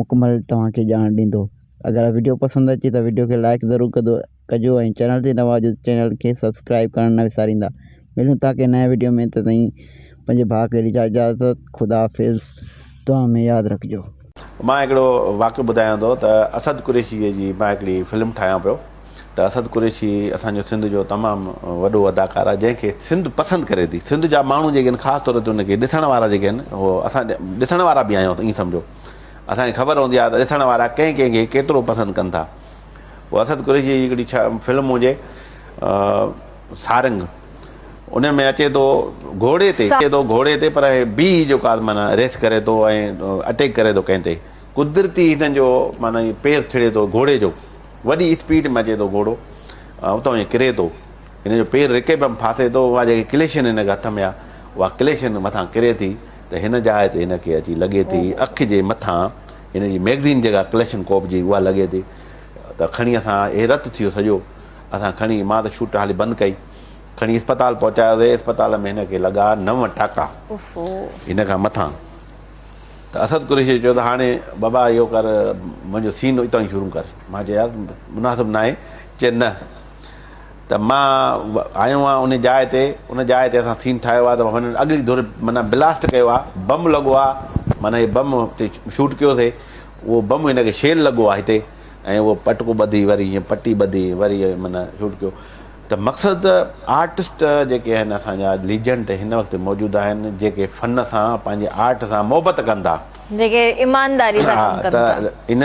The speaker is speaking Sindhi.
مڪمل توهان کي ڄاڻ ڏيندو اگر وڊيو پسند اچي ته وڊيو کي لائڪ ضرور ڪندو ڪجو ۽ چينل تي نوان آهجو ته چينل کي سبسڪرائب ڪرڻ نه وساريندا ملون ٿا ڪنهن نئين وڊيو ۾ تي تائين پنهنجي ڀاء کي ڏجان اجازت خدا حافظ دعا ۾ ياد رکجو. مان هڪڙو واقعو ٻڌايان ٿو ته اسد قريشيء جي مان هڪڙي فلم ٺاهيان پيو. ته اسد قريشي اسان جو سنڌ جو تمام وڏو اداڪار آهي جنهن کي سنڌ پسند ڪري ٿي سنڌ جا ماڻهو جيڪي آهن خاص طور تي ان کي ڏسڻ وارا جيڪي آهن اهو اسان ڏسڻ وارا به آهيون ائين سمجهو اسان کي خبر هوندي آهي ته ڏسڻ وارا ڪنهن ڪنهن کي ڪيترو پسند ڪن ٿا هو اسد قريشي جي هڪڙي ڇا فلم هجي سارنگ ان ۾ اچي ٿو گهوڙي تي اچي ٿو گهوڙي تي پر بي جو ڪار مانا ريس ڪري ٿو ۽ اٽيڪ ڪري ٿو ڪنهن تي قدرتي هن جو مانا پير ٿڙي ٿو گهوڙي جو وڏي اسپيڊ ۾ اچي ٿو گهوڙو ۽ اتان هي ڪري ٿو. هن جو پير رڪي ۾ ڦاسي ٿو. اها جيڪي ڪليشن هن کي هٿ ۾ آ، اها ڪليشن مٿان ڪري ٿي ته هن جاء تي هن کي اچي لڳي ٿي. اک جي مٿان هن جي مئگزين جيڪا ڪليشن ڪوپ جي اها لڳي ٿي ته کڻي اسان هي رت ٿيو سڄو. اسان کڻي مان ته شوٽ هالي بند ڪئي. کڻي اسپتال پهچايوسي. اسپتال ۾ هن کي لڳا نو ٽاڪا. هن کان مٿان ته اسد قريشيء چيو ته هاڻي بابا اهو ڪر، منهنجو سين اتان ئي شروع ڪر. مان چيو يار مناسب ناهي. چي نه ته مان آيو آهيان انهي جاء تي، ان جاء تي اسان سين ٺاهيو آهي ته هنن اڳلي ڌر معنيٰ بلاسٽ ڪيو آهي، بم لڳو آهي، معنيٰ هي بم تي شوٽ ڪيوسي، اهو بم هن کي شيل لڳو آهي هتي ۽ اهو پٽڪو ٻڌي وري هيئن پٽي ٻڌي وري معنيٰ شوٽ ڪيو. ته مقصد ته آرٽسٽ جيڪي آهن اسان جا ليجنڊ هن وقت موجود آهن جيڪي فن سان پنهنجي آرٽ سان محبت ڪن ٿا. جيڪي ايمانداري سان ڪم ڪن ٿا.